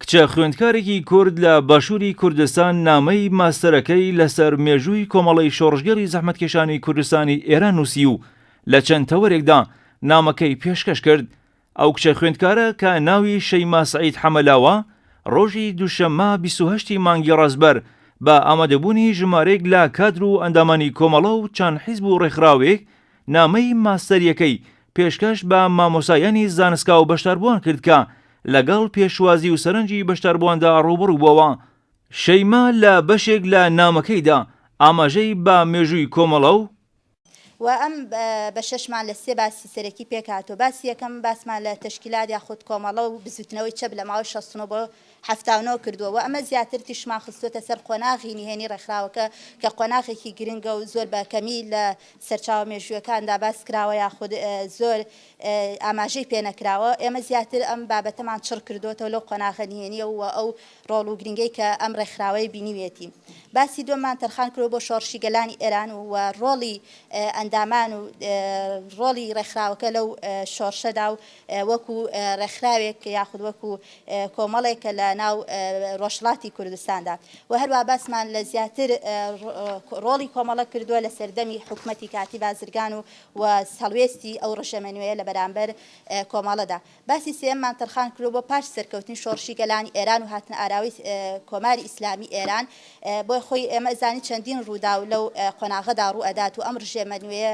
کچە خوێندکارێکی کورد لە باشووری کوردستان نامەی ماستەرەکەی لەسەر مێژووی کۆمەڵی شۆڕژگەری زەحمەتکێشانی کوردستانی ئێران نووسی و لە چەند تەوەرێکدا نامەکەی پێشکەش کرد ئەو کچە خوێندکارە کە ناوی شەیما سعید حەمەلاوە ڕۆژی دووشەممە 28 مانگی ڕازبەر بە ئامادەبوونی ژمارێک لە کادر و ئەندامانی کۆمەڵە و چەند حیزب و ڕێکخراوێک نامەی ماستەریەکەی پێشکەش بە مامۆستایانی زانستگا و بەشداربووان کرد کە لەگەڵ پێشوازی و سەرنجی بەشداربوواندا ڕووبەڕوو بۆوە. شەیما لە بەشێک لە نامەکەیدا ئاماژەی بە مێژووی کۆمەڵە و. و ئەم بەشەشمان لە سێ باسی سەرەکی پێکهاتووە، باسی یەکەم باسمان لە تەشکیلات یاخود کۆمەڵە و بزووتنەوەی چەپ لە ماوەی شەست و نۆ بۆ حەفتا و نۆ کردووە و ئەمە زیاتر تیشکمان خستووەتە سەر قۆناغی نهێنی ڕێکخراوەکە کە قۆناغێکی گرنگە و زۆر بە کەمی لە سەرچاوە مێژوویەکاندا باس کراوە یاخود زۆر ئاماژەی پێ نەکراوە ئێمە زیاتر ئەم بابەتەمان چڕ کردووەتەوە لەو قۆناغە نهێنیە و ئەو ڕۆڵ و گرنگەی کە ئەم ڕێکخراوەی بینیویەتی باسی دووەممان تەرخان کردووە بۆ شۆڕشی گەلانی ئێران و ڕۆڵی ئەندامان و ڕۆڵی ڕێکخراوەکە لەو شۆڕشەدا و وەکو ڕێکخراوێک یاخود وەکو کۆمەڵێک کە لە ناو ڕۆژهەڵاتی کوردستاندا و هەروە باسمان لە زیاتر ڕۆڵی کۆمەڵە کردووە لە سەردەمی حکومەتی کاتی بازرگان و و هەڵوێستی ئەو ڕژێمە نوێیە لە بەرامبەر کۆمەڵەدا باسی سێمان تەرخان کرد بۆ پاش سەرکەوتنی شۆڕشی گەلانی ئێران و هاتنە ئاراوەی کۆماری ئیسلامی ئێران بۆی خۆی ئێمە زانی چەندین ڕووداو لەو قۆناغەدا ڕوو ئەدات و ئەم ڕژێمە نوێیە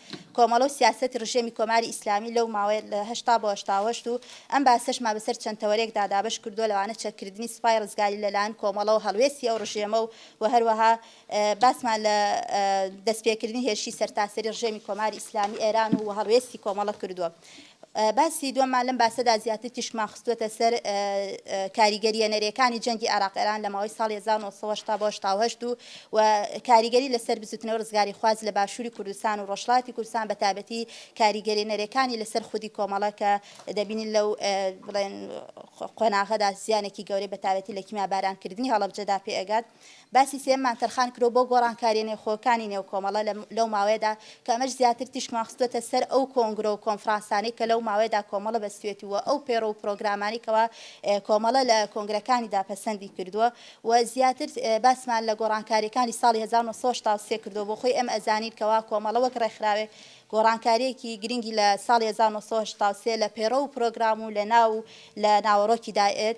کۆمەڵە و سیاسەتی ڕژێمی کۆماری ئیسلامی لەو ماوەی لە هەشتا بۆ هەشتا و هەشت و ئەم باسەشمان بەسەر چەند تەوەرێکدا دابەش کردووە لەوانە چەککردنی سوپای ڕزگاری لەلایەن کۆمەڵەوە هەڵوێستی ئەو ڕژێمە و و هەروەها باسمان لە دەستپێکردنی هێرشی سەرتاسەری ڕژێمی کۆماری ئیسلامی ئێران و و هەڵوێستی کۆمەڵە کردووە باسی دووەممان لەم باسەدا زیاتر تیشکمان خستووەتە سەر کاریگەرییە نەرێکانی جەنگی عێراق-ئێران لە ماوەی ساڵی هەزار و نۆ سەد و هەشتا بۆ هەشتا و هەشت و و کاریگەری لەسەر بزووتنەوەی ڕزگاریخواز لە باشووری کوردستان و ڕۆژهەڵاتی کوردستان بە تایبەتی کاریگەرییە نەرێکانی لەسەر خودی کۆمەڵە کە دەبینین لەو بڵێن قۆناغەدا زیانێکی گەورەی بە تایبەتی لە کیمیابارانکردنی هەڵەبجەدا پێ ئەگات. باسی سێیەممان تەرخان کرد و بۆ گۆڕانکارییە نێوخۆیەکانی نێو کۆمەڵە لە لەو ماوەیەدا کە ئەمەش زیاتر تیشکمان خستووەتە سەر ئەو کۆنگرە و کۆنفرانسانەی کە لەو ماوەیەدا کۆمەڵە بەستوویەتی و ئەو پەیڕەو و پرۆگرامانەی کەوا کۆمەڵە لە کۆنگرەکانیدا پەسەندی کردووە و زیاتر باسمان لە گۆڕانکارییەکانی ساڵی هەزار و نۆ سەد و هەشتا و سێ کردووە بۆ خۆی ئێمە ئەزانین کەوا کۆمەڵە وەک ڕێکخراوێک گۆڕانکارییەکی گرنگی لە ساڵی هەزار و نۆ سەد و هەشتا و سێ لە پەیڕەو و پرۆگرام و لە ناو و لە ناوەڕۆکیدا ئێد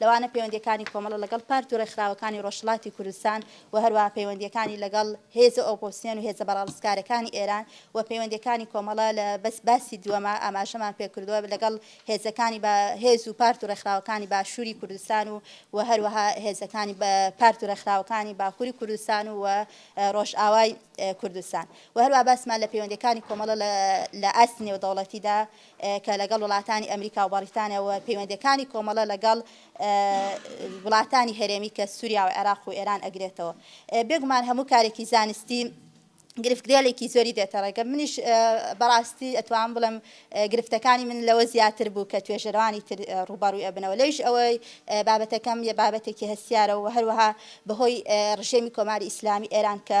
لەوانە پەیوەندییەکانی کۆمەڵە لەگەڵ پارت و ڕێکخراوەکانی ڕۆژهەڵاتی کوردستان و هەروەها پەیوەندییەکانی لەگەڵ هێزە ئۆپۆزسیۆن و هێزە بەڕەڵسکارەکانی ئێران و پەیوەندییەکانی کۆمەڵە لە بەس باسی دووەمە ئاماژەمان پێ کردووە لەگەڵ هێزەکانی بە هێز و پارت و ڕێکخراوەکانی باشووری کوردستان و و هەروەها هێزەکانی بە پارت و ڕێکخراوەکانی باکووری کوردستان و و ڕۆژئاوای کوردستان و هەروەها باسمان لە پەیوەندییەکانی کۆمەڵە لە لە ئاستی نێودەوڵەتیدا کە لەگەڵ وڵاتانی ئەمریکا و بەڕیتانیا و پەیوەندییەکانی کۆمەڵە لەگەڵ وڵاتانی هەرێمی کە سووریا و عێراق و ئێران ئەگرێتەوە. بێگومان هەموو کارێکی زانستی گرفتگێلێکی زۆری دێتە ڕێگە. منیش بەڕاستی ئەتوانم بڵێم گرفتەکانی من لەوە زیاتر بوو کە توێژەرانی تر ڕووبەڕووی ئەبنەوە. لەویش ئەوەی بابەتەکەم یە بابەتێکی هەستیارە و هەروەها بەهۆی ڕژێمی کۆماری ئیسلامی ئێران کە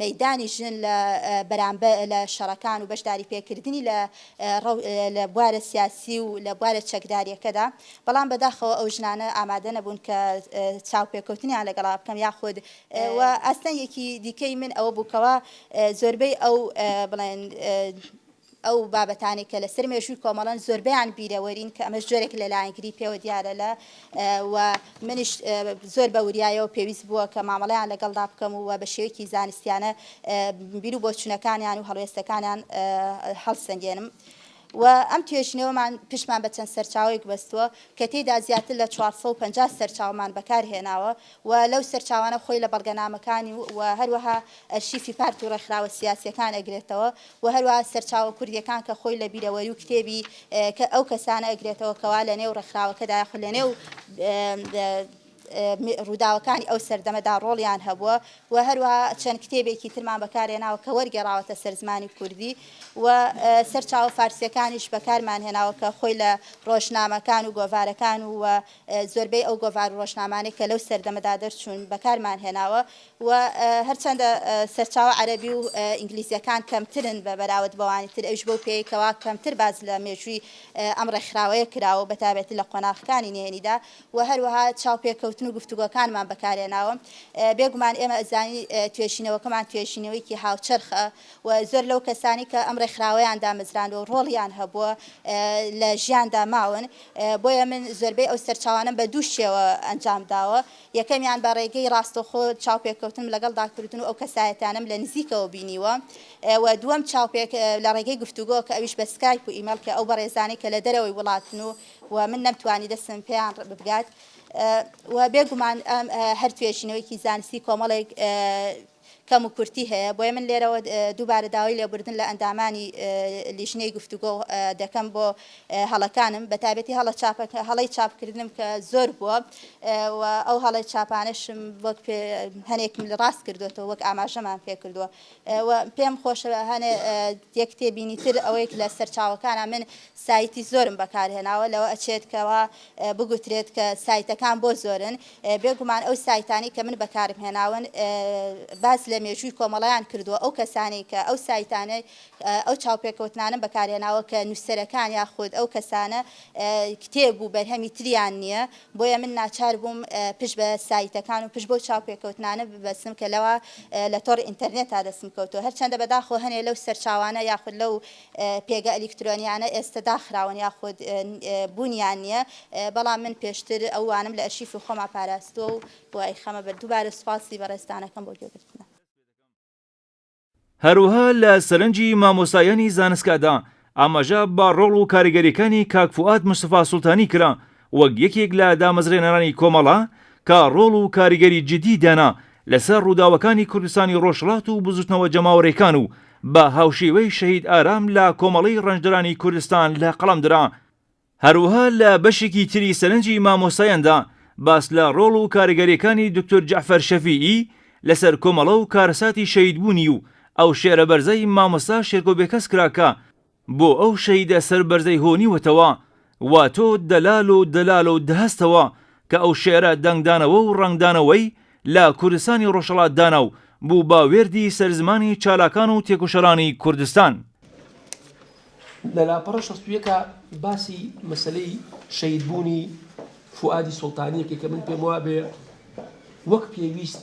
مەیدانی ژن لە بەرامبەر لە شەڕەکان و بەشداری پێکردنی لە لە بوارە سیاسی و لە بوارە چەکداریەکەدا بەڵام بەداخەوە ئەو ژنانە ئامادە نەبوون کە چاوپێکەوتنیان لەگەڵا بکەم یاخود و ئاستەنگێکی دیکەی من ئەوە بوو کەوا زۆربەی ئەو بڵێن ئەو بابەتانەی کە لەسەر مێژووی کۆمەڵەن زۆربەیان بیرەوەرین کە ئەمەش جۆرێک لە لایەنگری پێوە دیارە لە و منیش زۆر بە وریایەوە پێویست بووە کە مامەڵەیان لەگەڵدا بکەم و بە شێوەیەکی زانستیانە بیر و بۆچوونەکانیان و هەڵوێستەکانیان هەڵسەنگێنم. و ئەم توێژینەوەمان پشتمان بە چەند سەرچاوەیەک بەستووە کە تێیدا زیاتر لە چوار سەد و پەنجا سەرچاوەمان بەکارهێناوە و لەو سەرچاوانە خۆی لە بەڵگەنامەکانی و هەروەها ئەرشیفی پارت و ڕێکخراوە سیاسییەکان ئەگرێتەوە و هەروەها سەرچاوە کوردییەکان کە خۆی لە بیرەوەری و کتێبی ئەو کەسانە ئەگرێتەوە کەوا لە نێو ڕێکخراوەکەدا یاخود لە نێو ڕووداوەکانی ئەو سەردەمەدا ڕۆڵیان هەبووە و هەروەها چەند کتێبێکی ترمان بەکارهێناوە کە وەرگێڕاوەتە سەر زمانی کوردی و سەرچاوە فارسیەکانیش بەکارمان هێناوە کە خۆی لە ڕۆژنامەکان و گۆڤارەکان و زۆربەی ئەو گۆڤار و ڕۆژنامانەی کە لەو سەردەمەدا دەرچوون بەکارمان هێناوە و هەرچەندە سەرچاوە عەرەبی و ئینگلیزیەکان کەمترن بە بەراورد بەوانی تر ئەویش بەو پێیەی کەوا کەمتر باس لە مێژووی ئەم ڕێکخراوەیە کراوە و بەتایبەتی لە قۆناغەکانی نهێنیدا و هەروەها چاوپێکەوتن و گفتوگۆکانمان بەکارهێناوە بێگومان ئێمە ئەزانین توێژینەوەکەمان توێژینەوەیەکی هاوچەرخە و زۆر لەو کەسانەی کە ئەم ڕێکخراوەیان دامەزراندوە و ڕۆڵیان هەبووە لە ژیاندا ماون بۆیە من زۆربەی ئەو سەرچاوانەم بە دوو شێوە ئەنجام داوە، یەکەمیان بە ڕێگەی ڕاستەوخۆ چاوپێکەوتنم لەگەڵدا کردوون و ئەو کەسایەتیانەم لە نزیکەوە بینیوە و دووەم چاوپێک لە ڕێگەی گفتوگۆ کە ئەویش بە سکایپ و ئیمەیڵ کە ئەو بەڕێزانەی کە لە دەرەوەی وڵاتن و و من نەمتوانی دەستم پێیان بگات و بێگومان ئەم هەر توێژینەوەیەکی زانستی کۆمەڵێک کەم و کورتی هەیە، بۆیە من لێرەوە دووبارە داوای لێبوردن لە ئەندامانی لیژنەی گفتوگۆ دەکەم بۆ هەڵەکانم، بەتایبەتی هەڵە چاپ هەڵەی چاپ کردنم کە زۆر بووە و ئەو هەڵە چاپانەشم وەک پێ هەنێکم لە ڕاست کردوێتەوە وەک ئاماژەمان پێ کردووە و پێم خۆشە هەنێ یەک تێبینی تر ئەوەیەک لە سەرچاوەکانە من سایتی زۆرم بەکارهێناوە لەوە ئەچێت کەەوە بگوترێت کە سایتەکان بۆ زۆرن بێ گومان ئەو سایتانەی کە من بەکارم هێناون باس لە مێژووی کۆمەڵەیان کردووە ئەو کەسانەی کە ئەو سایتانەی ئەو چاوپێکەوتنانەم بەکارهێناوە کە نووسەرەکان یاخود ئەو کەسانە کتێب و بەرهەمی تریان نییە بۆیە من ناچار بووم پشت بە سایتەکان و پشت بۆ چاوپێکەوتنانە ببەسم کە لەوە لە تۆڕ ئینتەرنێتا دەسم کەوتو هەرچەندە بەداخۆ هەنێ لەو سەرچاوانە یاخود لەو پێگە ئەلیکترۆنیانە ئێستە داخراون یاخود بوونیان نییە بەڵام من پێشتر ئەو وانەم لە ئەرشیفی خۆما پاراستووە و بۆ ئەیخەمە بەر دووبارە سوپاسی بەڕێزتانەکەم بۆ گوێگرتنە. هەروەها لە سەرنجی مامۆستایانی زانستگادا ئاماژە بە ڕۆڵ و کاریگەرییەکانی کاک فوئاد مستەفا سوڵتانی کرا وەک یەکێک لە دامەزرێنەرانی کۆمەڵە کە ڕۆڵ و کاریگەری جیددی دانا لەسەر ڕووداوەکانی کوردستانی ڕۆژهەڵات و بزووتنەوە جەماوەرێکان و بە هاوشێوەی شەهید ئارام لە کۆمەڵەی ڕەنجدەرانی کوردستان لە قەڵەم درا. هەروەها لە بەشێکی تری سەرنجی مامۆستایاندا باس لە ڕۆڵ و کاریگەریەکانی دوکتور جەعفەر شەفیعی لەسەر کۆمەڵە و کارەساتی شەهیدبوونی و ئەو شێعرە بەرزەی مامۆستا شێرکۆ بێکەس کرا کە بۆ ئەو شەهیدە سەر بەرزەی هۆنیوەتەوە وا تۆ دەلال و دەلال و دهستەوە کە ئەو شێعرە دەنگدانەوە و ڕەنگدانەوەی لە کوردستانی ڕۆژهەڵات دانا و بوو بە وێردی سەر زمانی چالاکان و تێکۆشەرانی کوردستان. لە لاپەڕە شەست و یەک باسی مەسەلەی شەهیدبوونی فوئادی سوڵتانی یەکەی کە من پێم وابێ وەک پێویست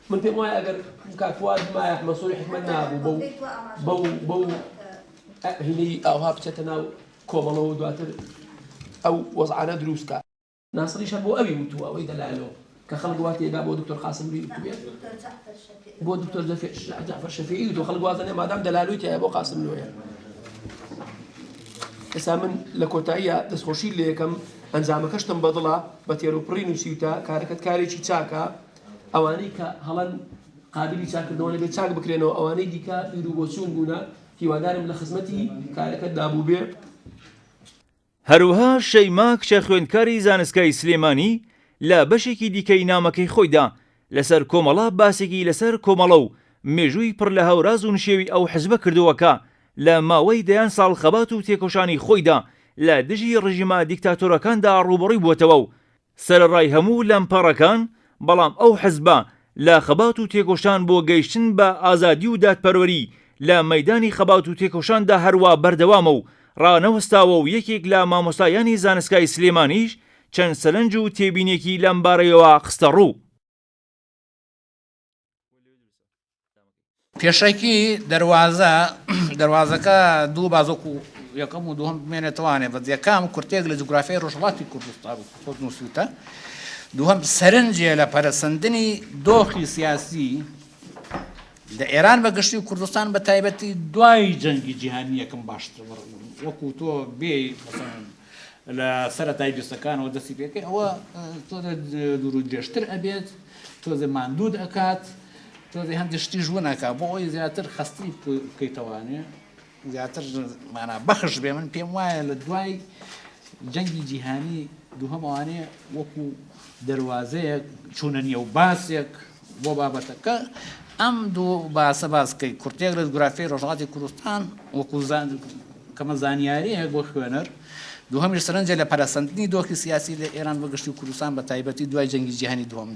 من پێم وایە ئەگەر کاک فواد بمایە ئەحمەد سۆری حیکمەت نابوو بەو بەو بەو هینەی ئاوها بچێتە ناو کۆمەڵەوە دواتر ئەو وەزعانە دروستکە ناسریش هەر بۆ ئەوی وتووە ئەوەی دەلایەنەوە کە خەڵک وا تێدا بۆ دکتۆر قاسملووی وتوویە بۆ دکتۆر جعفر شەفیعی وتووە خەڵک وازەنێ مادام دەلالوی تایە بۆ قاسملوویە ئێستا من لە کۆتاییە دەستخۆشی لە یەکەم ئەنجامەکەشتم بەدڵە بە تێروپڕین و سیوتە کارەکەت کارێکی چاکە ئەوانەی کە هەڵەن قابیلی چاکردنەوە نەبێت چاک بکرێنەوە ئەوانەی دیکە بیرو بۆچوون بوونە هیوادارم لە خزمەتی کارەکەت دابوو بێ. هەروها شەیما کچە خوێندکاری زانستگای سلێمانی لە بەشێکی دیکەی نامەکەی خۆیدا لەسەر کۆمەڵە باسێکی لەسەر کۆمەڵە و مێژووی پڕ لە هەوراز و نشێوی ئەو حزبە کردووە کە لە ماوەی دەیان ساڵ خەبات و تێکۆشانی خۆیدا لە دژی ڕژیمە دیکتاتۆرەکاندا ڕووبەڕووی بووەتەوە و سەرەڕای هەموو لەمپەڕەکان، بەڵام ئەو حزبە لە خەبات و تێکۆشان بۆ گەیشتن بە ئازادی و دادپەروەری لە مەیدانی خەبات و تێکۆشاندا هەروا بەردەوامە و ڕانەوەستاوە و یەکێک لە مامۆستایانی زانستگای سلێمانیش چەند سەرنج و تێبینێکی لەمبارەیەوە خستەڕوو. پێشەکی دەروازە دەروازەکە دوو بازۆک و یەکەم و دوم بمێنێتوانێ بە یەکەم کورتێک لە جوگرافیای ڕۆژڵاتی کوردستان و خۆت نووسوتە دووەم سەرنجێ لە پەرسەندنی دۆخی سیاسی لە ئێران بە گشتی و کوردستان بە تایبەتی دوای جەنگی جیهانی یەکەم باشتر وەکو تۆ بێ لە سەرەتای جستەکانەوە دەستی پێکەی ئەوە تۆزێ دوور و درێژتر ئەبێت تۆزێ ماندوود ئەکات تۆزێ هەندێک شتی ژوون ئەکا بۆ ئەوی زیاتر خەستی بکەیتەوانێ زیاتر مانا بەخش بێ من پێم وایە لە دوای جەنگی جیهانی دووهەمەوانێ وەکو دەواازەیەک چوونە نیە و باسێک بۆ بابەتەکە ئەم دوو باسە باس بکەیت، کورتەیەک لە جوگرافیای ڕۆژهەڵاتی کوردستان وەکوو کەمە زانیارییەک بۆ خوێنەر، دووهەمیش سەرنجە لە پەرەسەندنی دۆخی سیاسی لە ئێران بە گشتی و کوردستان بە تایبەتی دوای جەنگی جیهانی دووەم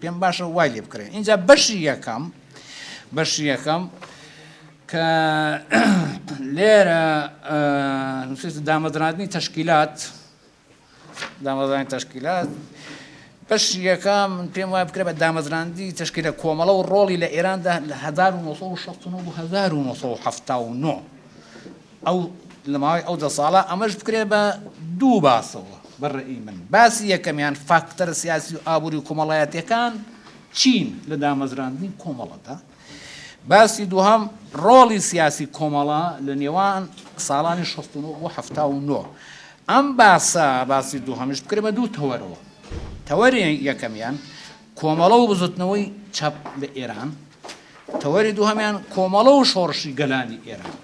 پێم باشە وای لێ بکڕێ. ئینجا بەشی یەکەم بەشی یەکەم کە لێرە نووسێت دامەزراندنی تەشکیلات دامەزراندنی تەشکیلات، بەشی یەکەم من پێم وایە بکرێت بە دامەزراندنی تەشکیلە کۆمەڵە و ڕۆڵی لە ئێراندا لە هەزار و نۆ سەد و شەست و نۆ بۆ هەزار و نۆ سەد و حەفتا و نۆ ئەو لە ماوەی ئەو دە ساڵە ئەمەش بکرێت بە دوو باسەوە بە ڕێی من باسی یەکەمیان فاکتەرە سیاسی و ئابووری و کۆمەڵایەتییەکان چین لە دامەزراندنی کۆمەڵەدا باسی دووهەم، ڕۆڵی سیاسی کۆمەڵە لە نێوان ساڵانی شەست و نۆ بۆ حەفتا و نۆ. ئەم باسە، باسی دووهەمیش بکرێ بە دوو تەوەرەوە. تەوەری یەکەمیان، کۆمەڵە و بزوتنەوەی چەپ لە ئێران. تەوەری دووهەمیان، کۆمەڵە و شۆڕشی گەلانی ئێران.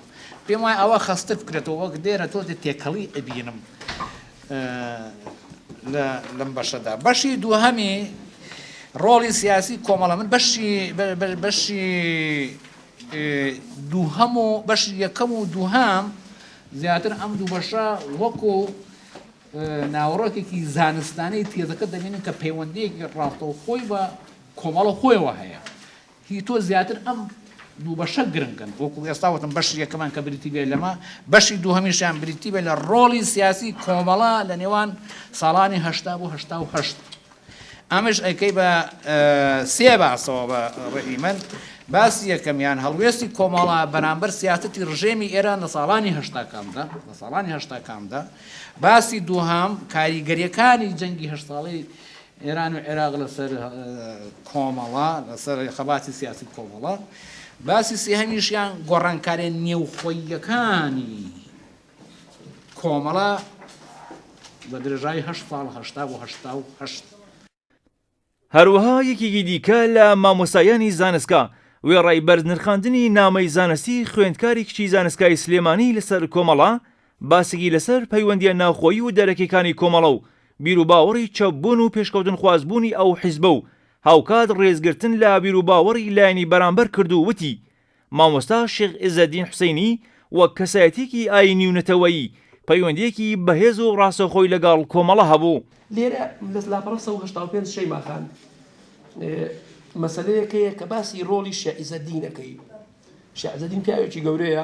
پێم وایە ئەوە خەستتر بکرێتەوە، وەک لێرە تۆزێ تێکەڵی ئەبینم. لە لەم بەشەدا بەشی دووهەمی ڕۆڵی سیاسی کۆمەڵە من بەشی بەشی دووهەم و بەشی یەکەم و دووهام زیاتر ئەم دوو بەشە وەکو ناوەڕۆکێکی زانستانەی تێزەکە دەبینن کە پەیوەندەیەکی ڕاستەوخۆی بە کۆمەڵە خۆیەوە هەیە هی تۆ زیاتر ئەم دوو بەشە گرنگن، وەکو ئێستا وتم بەشی یەکەمان کە بریتی بێت لەمە، بەشی دووهەمیشیان بریتی بێت لە ڕۆڵی سیاسی کۆمەڵە لە نێوان ساڵانی هەشتا بۆ هەشتا و هەشت. ئەمەش ئەیکەی بە سێ باسەوە بە ڕەئی من، باسی یەکەمیان هەڵوێستی کۆمەڵە بەرامبەر سیاسەتی ڕژێمی ئێران لە ساڵانی هەشتاکاندا، لە ساڵانی هەشتاکاندا، باسی دووهەم کاریگەریەکانی جەنگی هەشت ساڵەی ئێران و عێراق لەسەر کۆمەڵە، لەسەر خەباتی سیاسی و کۆمەڵە، باسی سێهەمیشیان گۆڕانکاریە نێوخۆییەکانی کۆمەڵە بە درێژایی هەشت ساڵ، هەشتا بۆ هەشتا و هەشت. هەروەها یەکێکی دیکە لە مامۆستایانی زانستگا وێڕای بەرزنرخاندنی نامەی زانستی خوێندکاری کچی زانستگای سلێمانی لەسەر کۆمەڵە، باسێکی لەسەر پەیوەندییە ناوخۆیی و دەرەکیەکانی کۆمەڵە و بیروباوەڕی چەپ بوون و پێشکەوتنخواز بوونی ئەو حیزبە و هاوکات ڕێزگرتن لە بیروباوەڕی لایەنی بەرامبەر کرد و وتی، مامۆستا شێخ عیزەدین حوسەینی وەک کەسایەتیەکی ئایینی و نەتەوەیی پەیوەندیەکی بەهێز و ڕاستەوخۆی لەگەڵ کۆمەڵە هەبوو. لێرە لە لاپەڕە سەد و هەشتا و پێنج شەیما خان مەسەلەیەک هەیە کە باسی ڕۆڵی شێخ عیزەدینەکەی، شێخ عیزەدین پیاوێکی گەورەیە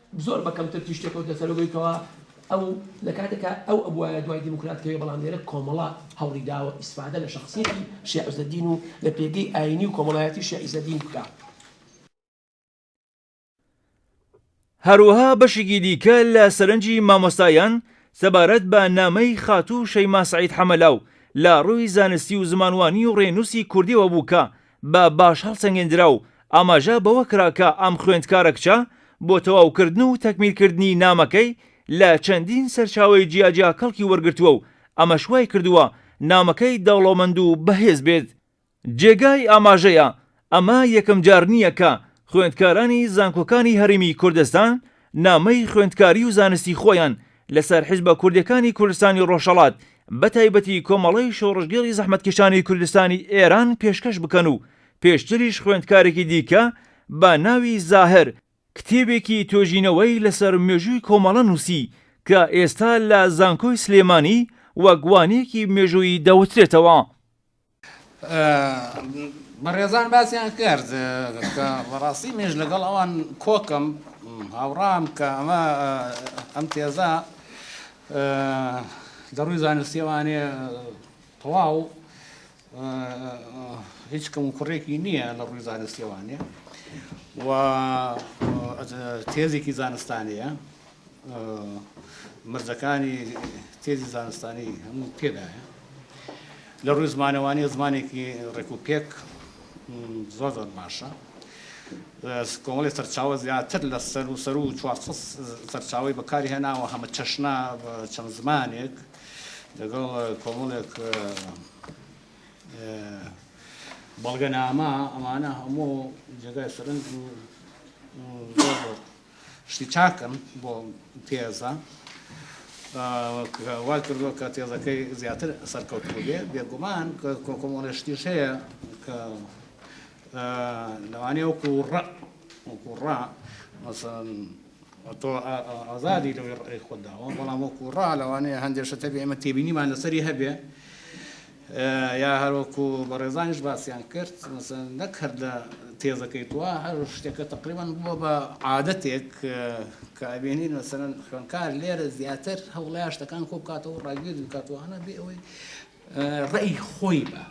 زۆر بە کەمتر تیژ تێکەوتنە سەرو بەوی کەوا ئەو لە کاتێکا ئەو ئەبوایە دوای دیموکرات کەوێ بەڵام لێرە کۆمەڵە هەوڵی داوە ئیسفادە لە شەخسیەتی شێخ عیزەدین و لە پێگەی ئاینی و کۆمەڵایەتی شێخ عیزەدین بکا. هەروەها بەشێکی دیکە لە سەرنجی مامۆستایان سەبارەت بە نامەی خاتوو شەیما سەعید حەمەلاو لە ڕووی زانستی و زمانوانی و ڕێنووسی کوردیەوە بوو کە بە باش هەڵسەنگێندرا و ئاماژە بەوە کرا کە ئەم خوێندکارە کچە بۆ تەواوکردن و تەکمیلکردنی نامەکەی لە چەندین سەرچاوەی جیاجیا کەڵکی وەرگرتووە و ئەمەش وایکردووە نامەکەی دەوڵەمەند و بەهێز بێت. جێگای ئاماژەیە ئەمە یەکەمجار نییە کە خوێندکارانی زانکۆکانی هەرێمی کوردستان نامەی خوێندکاری و زانستی خۆیان لەسەر حیزبە کوردیەکانی کوردستانی ڕۆژهەڵات بەتایبەتی کۆمەڵەی شۆڕشگێڕی زەحمەتکێشانی کوردستانی ئێران پێشکەش بکەن و پێشتریش خوێندکارێکی دیکە بە ناوی زاهر کتێبێکی توێژینەوەی لەسەر مێژووی کۆمەڵە نووسی کە ئێستا لە زانکۆی سلێمانی وەک وانەیەکی مێژوویی دەوترێتەوە. بەڕێزان باسیان کرد کە بەڕاستی مێش لەگەڵ ئەوان کۆکم هاوڕام کە ئەمە ئەم تێزە دەڕووی زانستیەوانێ تەواو هیچ کەم و کوڕێکی نییە لە ڕووی زانستیەوانێ و تێزێکی زانستانەیە مەرجەکانی تێزی زانستانی هەموو تێدایە لە ڕووی زمانەوانی زمانێکی ڕێک و پێک زۆر زۆر باشە کۆمەڵی سەرچاوە زیاتر لە سەر و سەر و چوار سەرچاوی بەکاری هێناوە هەمە چەشنا چەند زمانێک لەگەڵ کۆمەڵێک بەڵگەنامە ئەمانە هەموو جێگای سەرنج و شتی چاکن بۆ تێزە کە وای کردووە کە تێزەکەی زیاتر سەرکەوتوو بێ بێگومان کۆکۆمۆنە شتیش هەیە کە لەوانەیە وەکو ڕە وەکو ڕا مەسەن تۆ ئازادی لەوەی ڕێی خۆداوە بەڵام وەکو ڕا لەوانەیە هەندێشە تەبێ ئمە تێبینیمان لەسەری هەبێ یا هەروەکو بەڕێزانیش باسیان کرد مەسەلەن نەک هەر لە تێزەکەی تۆ هەر شتێکە تەقریبەن بووە بە عادەتێک کە ئەبینین مەسەلەن خوێندکار لێرە زیاتر هەوڵەیە شتەکان کۆ بکاتەوە ڕاگوێز بکاتەوە هەنا بێ ئەوەی ڕێی خۆی بە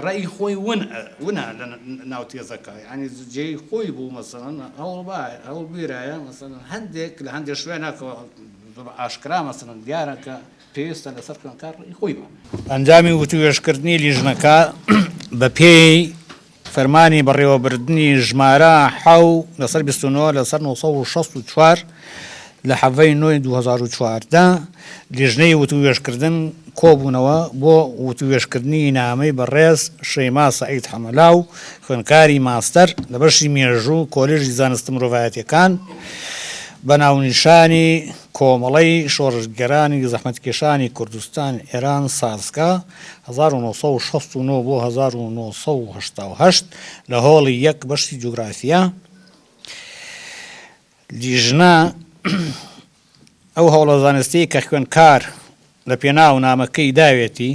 ڕێی خۆی ون ونا لە ناو تێزەکە ینی جێی خۆی بوو مەسەن هەوڵ با هەوڵ بیرایە مەسەن هەندێک لە هەندێک شوێنەکەەوە ئاشکرا مەسەن دیارە کە پێویستە لەسەر خوێندکار ڕێی خۆی بە. ئەنجامی وتووێژکردنی لیژنەکە بەپێی فەرمانی بەڕێوەبردنی ژمارە ح لەسەر 29 لەسەر 964 لە حەڤەی نۆی 2014 لیژنەی وتووێژکردن کۆبوونەوە بۆ وتووێژکردنی نامەی بەڕێز شەیما سەعید حەمەلاو خوێندکاری ماستەر لە بەشی مێژوو کۆلێژی زانستە مرۆڤایەتیەکان بە ناونیشانی کۆمەڵەی شۆڕشگێرانی زەحمەتکێشانی کوردستان، ئێران، سازکا، هەزار و نۆ سەد و شەست و نۆ بۆ هەزار و نۆ سەد و هەشتا و هەشت، لە هۆڵی یەک، بەشی جوگرافیا، لیژنە، ئەو هەوڵە زانستییەی کە خوێندکار، لە پێناو نامەکەی داوێتی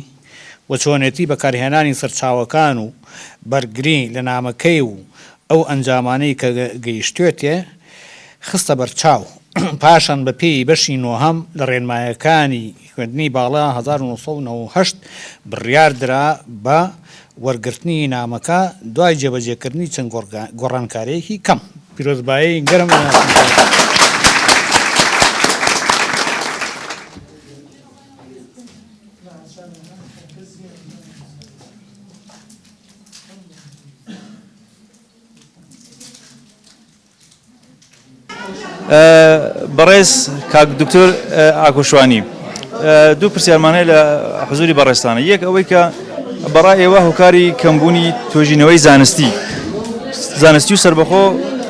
و چۆنێتی بەکارهێنانی سەرچاوەکان و بەرگری لە نامەکەی و ئەو ئەنجامانەی کە گەیشتوێتێ خستە بەرچاو، پاشان بە پێی بەشی نۆهەم لە ڕێنمایەکانی خوێندنی باڵا هەزار و نۆ سەد و نەوەد و هەشت بڕیار درا بە وەرگرتنی نامەکە دوای جێبەجێکردنی چەند گۆڕانکارییەکی کەم. پیرۆزبایی گەرم بەڕێز کاک دکتۆر ئاکۆشوانی دوو پرسیارمانەیە لە حزوری بەڕێستانە یەک ئەوەی کە بەڕای ئێوە هۆکاری کەمبوونی توێژینەوەی زانستی زانستی و سربەخۆ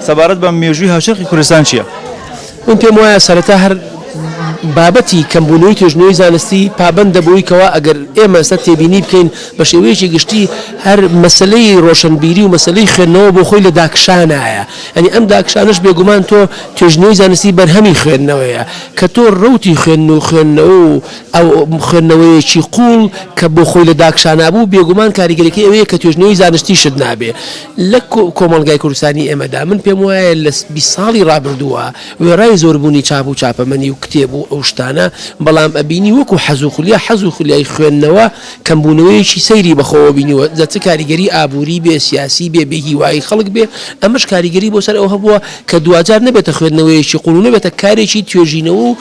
سەبارەت بە مێژووی هاوچەرخی کوردستان چییە؟ من پێم وایە سەرەتا هەر بابەتی کەمبوونەوەی توێژینەوەی زانستی پابەندە بەوەی کەوا ئەگەر ئێمە ئێستا تێبینی بکەین بە شێوەیەکی گشتی هەر مەسەلەی ڕۆشنبیری و مەسەلەی خوێندنەوە بۆ خۆی لە داکشانایە یانی ئەم داکشانەش بێگومان تۆ توێژینەوەی زانستی بەرهەمی خوێندنەوەیە کە تۆ ڕەوتی خوێندن و خوێندنەوە و ئەو خوێندنەوەیەکی قووڵ کە بۆ خۆی لە داکشانا بوو، بێگومان کاریگەریەکەی ئەوەیە کە توێژنەوەی زانستیشت نابێ لە کۆمەڵگای کوردستانی ئێمەدا. من پێم وایە لە بیست ساڵی ڕابردووە وێڕای زۆربوونی چاپ و چاپەمەنی و کتێب و ئەو شتانە، بەڵام ئەبینی وەکوو حەز و خولیا حەز و خولیای خوێندنەوە کەمبوونەوەیەکی سەیری بە خۆوە بینیوە، جا چ کاریگەری ئابووری بێ، سیاسی بێ، بێ هیوایی خەڵک بێ، ئەمەش کاریگەری بۆ سەر ئەوە هەبووە کە دواجار نەبێتە خوێندنەوەیەکی قووڵ و نەبێتە کارێکی توێژینەوە و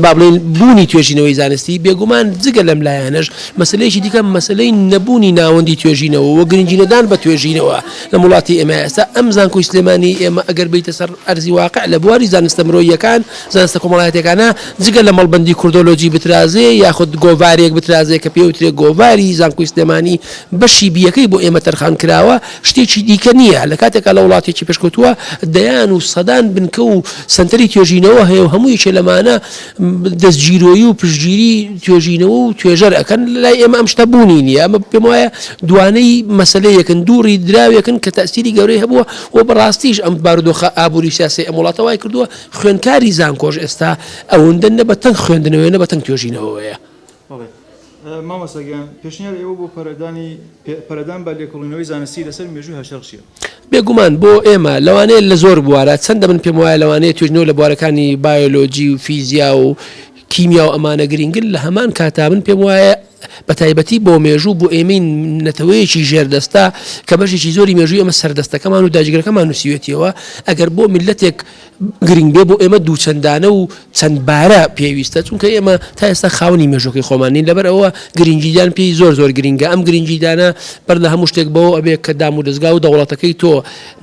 با بڵێین بوونی توێژینەوەی زانستی، بێگومان جگە لەم لایەنەش مەسەلەیەکی دیکە مەسەلەی نەبوونی ناوەندی توێژینەوە و گرنگی نەدان بە توێژینەوە لەم وڵاتی ئێمە ئێستا ئەم زانکۆی سلێمانی ئێمە ئەگەر بێیتە سەر ئەرزی واقع لە بواری زانستە مرۆییەکان زانستە کۆمەڵایەتیەکانە جگە لە مەڵبەندی کوردۆلۆجی بترازێ یاخود گۆڤارێک بترازێ کە پێوترێ گۆڤاری زانکۆی سلێمانی بەشی بیەکەی بۆ ئێمە تەرخان کراوە شتێکی دیکە نییە، لە کاتێکا لە وڵاتێکی پێشکەوتووە دەیان و سەدان بنکە و سەنتەری توێژینەوە هەیە و هەموو یەکێ لەمانە دەستگیرۆیی و پشتگیری توێژینەوە و توێژەر ئەکەن، لای ئێمە ئەم شتە بوونی نییە، ئەمە پێم وایە دوانەی مەسەلەیەکن، دووڕی دراوێکن کە تەئسیری گەورەی هەبووە و بە ڕاستیش ئەم بارودۆخە ئابووری و سیاسیەی ئەم وڵاتە وای کردووە خوێندکاری زانکۆش ئێستا ئەوەندە نە بە تەنگ خوێندنەوەیە نە بە تەنگ توێژینەوەیە. مامۆستا گیان پێشنیار ئێوە بۆ پەرەدانی پەرەدان بە لێکۆڵینەوەی زانستی لەسەر مێژووی هەشار چییە؟ بێگومان بۆ ئێمە لەوانەیە لە زۆر بوارە چەندە من پێم وایە لەوانەیە توێژینەوە لە بوارەکانی بایۆلۆجی و فیزیا و کیمیا و ئەمانە گرینگن لە هەمان کاتا من پێم وایە بە تایبەتی بۆ مێژوو بۆ ئێمەی نەتەوەیەکی ژێردەستە کە بەشێکی زۆری مێژووی ئەمە سەردەستەکەمان و داجگرەکەمان نووسیوێتیەوە ئەگەر بۆ میلەتێک گرنگ بێ بۆ ئێمە دووچەندانە و چەند بارە پێویستە چونکە ئێمە تا ئێستا خاونی مێژۆکەی خۆمان نین لەبەر ئەوە گرنگیدان پێی زۆر زۆر گرنگە ئەم گرنگیدانە بەر لە هەموو شتێک بەوە ئەبێ کە دام و دەستگا و دەوڵەتەکەی تۆ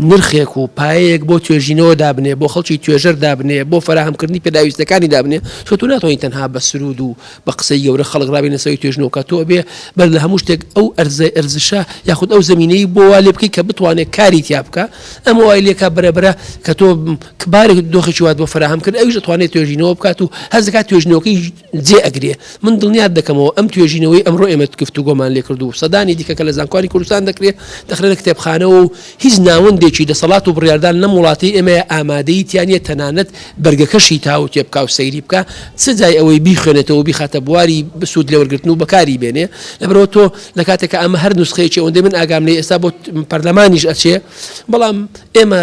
نرخێک و پایەیەک بۆ توێژینەوە دابنێ بۆ خەڵکی توێژەر دابنێ بۆ فراهمکردنی پێداویستەکانی دابنێ تۆ تو ناتوانین تەنها بە سرود و بە قسەی گەورە خەڵک ڕابێنە سەوی توێژنەوە کە تۆ ئەبێ بەر لە هەموو شتێک ئەو ئەرزە ئەرزشە یاخود ئەو زمینەی بۆ وا لێ بکەیت کە بتوانێت کاری تیا بکە ئەمە وای لێکا بەرەبرە کە تۆ کبارێک دۆخێکی وات بۆ فراهەم کرد ئەویش دەتوانێت توێژینەوە بکات و هەزکات توێژنەوەکەی جێ ئەگرێ من دڵنیات دەکەمەوە ئەم توێژینەوەی ئەمڕۆ ئێمە گفتوگۆمان لێ کردو سەدانی دیکە کە لە زانکۆی کوردستان دەکرێت دەخرێنە کتێبخانەوە و هیچ ناوەندێکی دەسەڵات و بڕیاردان لەم وڵاتەی ئێمەیە ئامادەیی تیا نیە تەنانەت بەرگەکەشی تاوو تێ بکا و سەیری بکا چ جای ئەوەی بیخوێنێتەوە و بیخاتە بواری سوود لێوەرگرتن و بەکاری بێنێ لەبەرئەوە تۆ لە کاتێک کە ئەمە هەر نوسخەیەکی ئەوەندەی من ئاگام لێ ئێستا بۆ پەرلەمانیش ئەچێ بەڵام ئێمە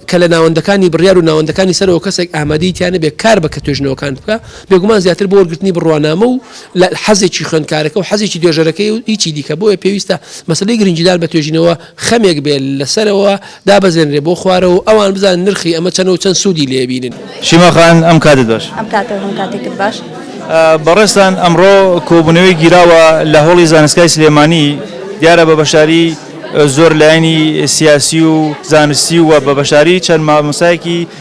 کە لە ناوەندەکانی بڕیار و ناوەندەکانی سەرەوە کەسێک ئامادەی تیا نەبێ کار بە کە توێژنەوەکان بکا بێگومان زیاتر بۆ وەرگرتنی بڕوانامە و لە حەزێکی خوێندکارەکە و حەزێکی توێژەرەکەی و هیچی دیکە بۆیە پێویستە مەسلەی گرنگیدار بە توێژینەوە خەمێک بێت لەسەرەوە دابەزێنرێ بۆ خوارەوە ئەوان بزان نرخی ئەمە چەند و چەند سوودی لێبینن شیماخان ئەم کاتت باش ئەم کاتە هەم کاتێکت باش بەڕێستان ئەمڕۆ کۆبوونەوەی گیراوە لە هۆڵی زانستگای سلێمانی دیارە بە بەشاری زۆر لایەنی سیاسی و زانستی و بە بەشاری چەند مامۆسایەکی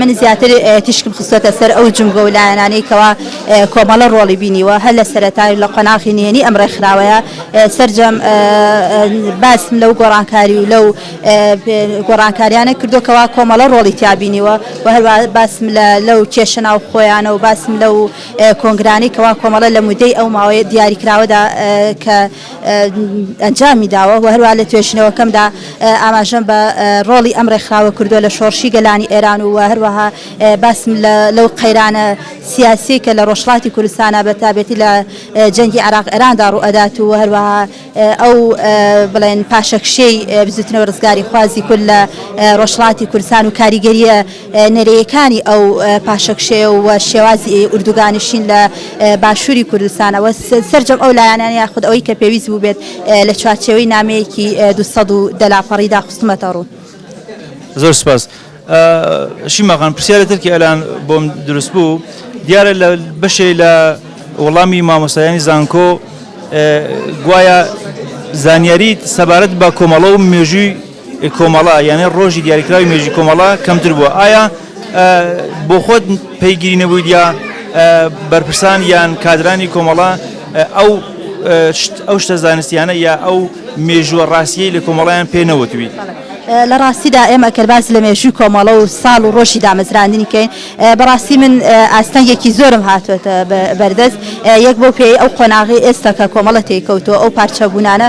من زیاتر تیشکم خستۆتە سەر ئەو جومگە و لایەنانەی کەوا کۆمەڵە ڕۆڵی بینیوە هەر لە سەرەتای و لە قۆناغی نهێنی ئەم ڕێکخراوەیە سەرجەم باسم لەو گۆڕانکاری و لەو گۆڕانکاریانە کردووە کەوا کۆمەڵە ڕۆڵی تیا بینیوە و هەروا باسم لە لەو کێشە ناوخۆیانە و باسم لەو کۆنگرانەی کەوا کۆمەڵە لە مودەی ئەو ماوەی دیاریکراوەدا کە ئەنجامی داوە و هەروەها لە توێژینەوەکەمدا ئاماژەم بە ڕۆڵی ئەم ڕێکخراوە کردووە لە شۆڕشی گەلانی ئێران و هەروەها باسم لەو قەیرانە سیاسیەی کە لە ڕۆژهەڵاتی کوردستانا بە تابێتی لە جەنگی عێراق ئێراندا ڕووئەدات و هەروەها ئەو بڵێن پاشەکشێی بزووتنەوە ڕزگاریخوازی کورد لە ڕۆژهەڵاتی کوردستان و کاریگەریە نەرێیەکانی ئەو پاشەکشێ و شێوازی ئوردوگانشین لە باشووری کوردستان و سەرجەم ئەو لایەنانە یاخود ئەوەی کە پێویست بووبێت لە چوارچێوەی نامەیەکی دوو سەد و دە لاپەڕیدا خستومەتە ڕوو. زۆر سپاس. شیما خان پرسیارێ تر کە ئێلان بۆم دروست بوو، دیارە لە بەشێ لە وەڵامی مامۆستایانی زانکۆ گوایە زانیاریت سەبارەت بە کۆمەڵە و مێژووی ی کۆمەڵە یانێ ڕۆژی دیاریکراوی مێژوی کۆمەڵە کەمتر بووە ئایا بۆ خۆت پەیگیری نەبووی دیا بەرپرسان یان کادرانی کۆمەڵە ئەو ئەو شتە زانستیانە یا ئەو مێژووە ڕاستیەی لە کۆمەڵیان پێ نەوتوی. لە ڕاستیدا ئێمە کەرباز لە مێژووی کۆمەڵە و ساڵ و ڕۆژی دامەزراندنی کەین بەڕاستی من ئاستەنگێکی زۆرم هاتوێتە بەردەست یەک بۆ پێی ئەو قۆناغی ئێستا کە کۆمەڵە تێکەوتۆ ئەو پارچەبوونانە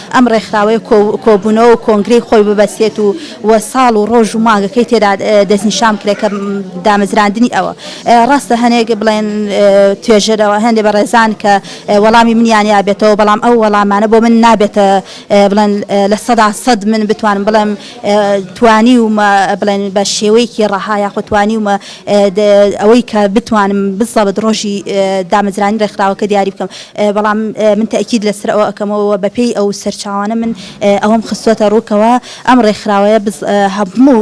ئەم ڕێکخراوەیە کۆبوونەوە و کۆنگرەی خۆی ببەستێت و و ساڵ و ڕۆژ و مانگەکەی تێدا دەستنیشان بکرێت کە دامەزراندنی ئەوە ڕاستە هەنێک بڵێن توێژەرەوە هەندێک بەڕێزان کە وەڵامی منیان یابێتەوە بەڵام ئەو وەڵامانە بۆ من نابێتە بڵێن لە سەدا سەد من بتوانم بڵێم توانیومە بڵێن بە شێوەیەکی ڕەها یاخود توانیومە ئەوەی کە بتوانم بزەبت ڕۆژی دامەزرانی ڕێکخراوەکە دیاری بکەم بەڵام من تەئکید لەسەر ئەوە ئەکەمەوە و بەپێی ئەو سەرچاوانە من ئەوەم خستووەتە ڕوو کەوا ئەم ڕێکخراوەیە بز هەموو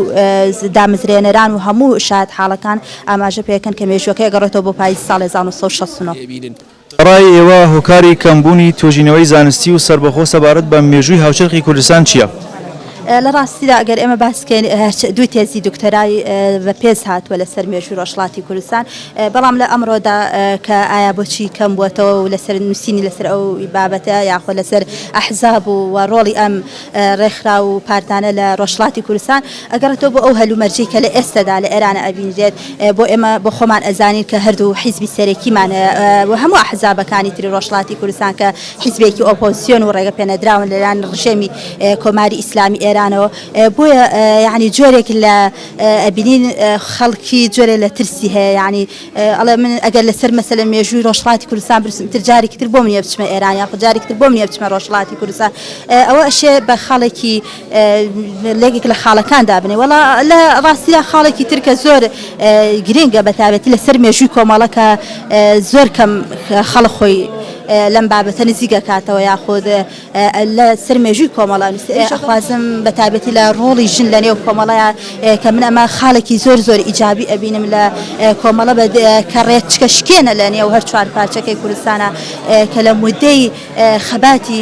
دامەزرێنەران و هەموو شایەتحاڵەکان ئاماژە پێ ئەکەن کە مێژووەکەی ئەگەڕێتەوە بۆ پایزی ساڵی هەزار و نۆ سەد و شەست و نۆ. بە ڕای ئێوە هۆکاری کەم بوونی توێژینەوەی زانستی و سەربەخۆ سەبارەت بە مێژووی هاوچەرخی کوردستان چییە؟ لە ڕاستیدا ئەگەر ئێمە باس بکەین دوو تێزی دکتۆرای بە پێز هاتووە لەسەر مێژووی ڕۆژهەڵاتی کوردستان، بەڵام لە ئەمڕۆدا کە ئایا بۆچی کەم بووەتەوە و لەسەر نووسینی لەسەر ئەو بابەتە یاخۆ لەسەر ئەحزاب و و ڕۆڵی ئەم ڕێکخراو و پارتانە لە ڕۆژهەڵاتی کوردستان ئەگەڕێتەوە بۆ ئەو هەلومەرجەی کە لە ئێستەدا لە ئێرانە ئەبینرێت بۆ ئێمە بۆ خۆمان ئەزانین کە هەردوو حیزبی سەرەکیمان هەیە و هەموو ئەحزابەکانی تری ڕۆژهەڵاتی کوردستان کە حیزبێکی ئۆپۆزسیۆن و ڕێگەپێنەدراون لەلایەن ڕژێمی کۆماری ئیسلامی ئێرانەوە بۆیە یەعنی جۆرێک لە ئەبینین خەڵکی جۆرێ لە ترسی هەیە یعنی ئەڵێ من ئەگەر لەسەر مەسەلە مێژووی ڕۆژهڵاتی کوردستان برسم تر جارێکی تر بۆم نیە بچمە ئێران یا جارێکی تر بۆم نیە بچمە ڕۆژهڵاتی کوردستان ئەوە ئەشێ بە خاڵێکی لێکێک لە خاڵەکان دابنێ وڵا لە ڕاستیدا خاڵێکی ترکە زۆر گرنگە بەتابەتی لەسەر مێژووی کۆمەڵەکە زۆر کەم خەڵ خۆی لەم بابەتە نزیگە کاتەوە یاخود لە سەر مێژووی کۆمەڵە ئەخوازم بە تابێتی لە ڕۆڵی ژن لە نێو کۆمەڵەیە کە من ئەمە خاڵێکی زۆر زۆر ئیجابی ئەبینم لە کۆمەڵە بە کە ڕێچکە شکێنە لە نێو هەر چوار پارچەکەی کوردستانە کە لە مدەی خەباتی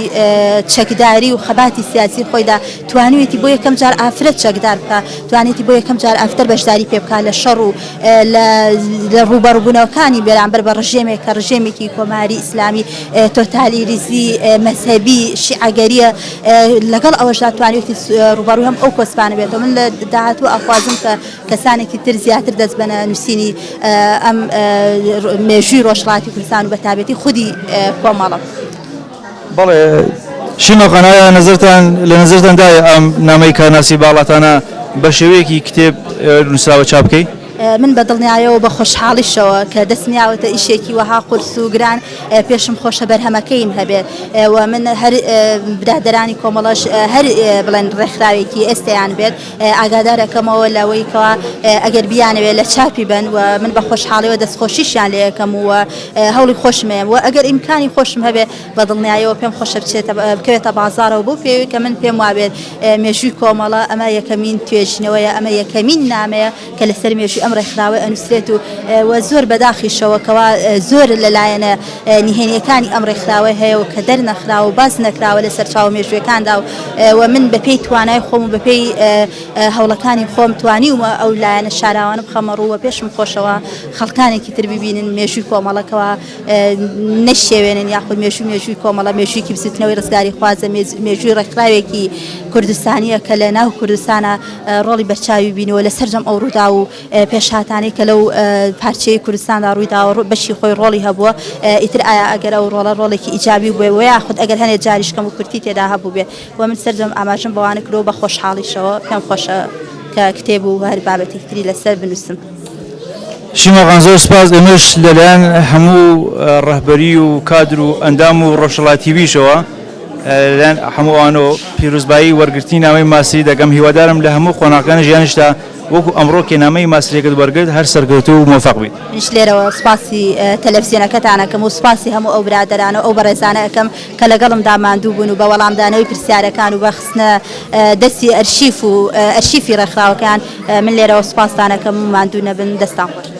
چەکداری و خەباتی سیاسی خۆیدا توانوێتی بۆ یەکەم جار ئافرەت چەکدار بکە توانێتی بۆ یەکەم جار ئافتەر بەشداری پێ بکە لە شەڕ و لە ڕوبەڕبوونەوەکانی بەرامبەر بە ڕژێمێک کە ڕژێمێکی کۆماری ئیسلامی تۆتالیریزی مەزهەبی شیعەگەریە لەگەڵ ئەوەشدا توانێتی ڕوبەڕوی هەم ئەو کۆسپانە بێتەوە من لە داهاتوو ئەخوازم کە کەسانێکی تر زیاتر دەست بەە نووسینی ئەم مێژووی ڕۆژڵاتی کوردستان و بەتابێتی خودی کۆمەڵە بەڵێ شیمە قەنایا نەزرتان لە نەزرتان دای ئەم نامەی کارناسی باڵاتانە بە شێوەیەکی کتێب نووسراوە چاپ بکەیت من بە دڵنیایەوە بە خۆشحاڵیشەوە کە دەست نیاوەتە ئیشێکی وەها قورس و گران پێشم خۆشە بەرهەمەکەیم هەبێت و من هەر برادرانی کۆمەڵەش هەر بڵێن ڕێکخراوێکی ئێستیان بێت ئاگادارەکەمەوە لەوەیکەوە ئەگەر بیانەوێت لە چاپی بن و من بە خۆشحاڵیەوە دەستخۆشیشیان لەکەم و هەوڵی خۆشمێ و ئەگەر ئیمکانی خۆشم هەبێت بەدڵنیایەوە پێم خۆشە بچێتە بکەوێتە بازارەوە بۆ پێوی کە من پێم وابێت مێژووی کۆمەڵە ئەمە یەکەمین توێژینەوەیە ئەمە یەکەمین نامەیە کە لەسەر مێژوی ئەم ڕێکخراوە ئەنووسێت و وە زۆر بەداخیشەوە کەوا زۆر لەلایەنە نهێنیەکانی ئەم ڕێکخراوە هەیە و کە دەرنەخرا و باز نەکراوە لە سەرچاو مێژوەکاندا و وە من بەپێی توانای خۆم و بەپێی هەوڵەکانی خۆم توانی ومە ئەو لایەنە شاراوانە بخەمە ڕووە پێشم خۆشەوە خەڵکانێکی تر ببینن مێژوی کۆمەڵەکەەوە نەشێوێنن یاخود مێژوو مێژووی کۆمەڵە مێژوویکی بزوتنەوەی ڕزگاری خوازە مێژووی ڕێکخراوێکی کوردستانیە کە لە ناو کوردستانە ڕۆڵی بەرچاوی بینەوە لە سەررجەم ئەو ڕوودا و پێشاتانەی کە لەو پارچەی کوردستاندا ڕوویداوە ڕوو بەشی خۆی ڕۆڵی هەبووە ئیتر ئایا ئەگەر ئەو ڕۆڵە ڕۆڵێکی ئیجابی بێ و یاخود ئەگەر هەنێ جاریشکەم و کورتی تێدا هەبوو بێ و من سەررجەم ئاماژم بەوانە کرۆ بە خۆشحاڵیشەوە پێم خۆشە کە کتێب و هەر بابەتی تری لەسەر بنووسم. شیماغان زۆر سپاس ئێمەش لەلایەن هەموو ڕەهبەری و کادر و ئەندام و ڕۆژهەڵات تیڤیشەوە لەلایەن هەموو ئەوانەوە پیرۆزبایی وەرگرتنی نامەی ماسری دەکەم هیوادارم لە هەموو قۆناغەکانی ژیانیشتا وەکو ئەمڕۆ کە نامەی ماسریەکت وەرگرت هەر سەرکەوتوو و مۆفەق بیت. منیش لێرەوە سپاسی تەلەفزیۆنەکەتان ئەکەم و سپاسی هەموو ئەو برادەرانە و ئەو بەڕێزانە ئەکەم کە لەگەڵمدا ماندوو بوون و بە وەڵامدانەوەی پرسیارەکان و بە خستنە دەستی ئەرشیف و ئەرشیفی ڕێکخراوەکەیان، من لێرەوە سوپاستان ئەکەم و ماندوو نەبن، دەستان خۆش.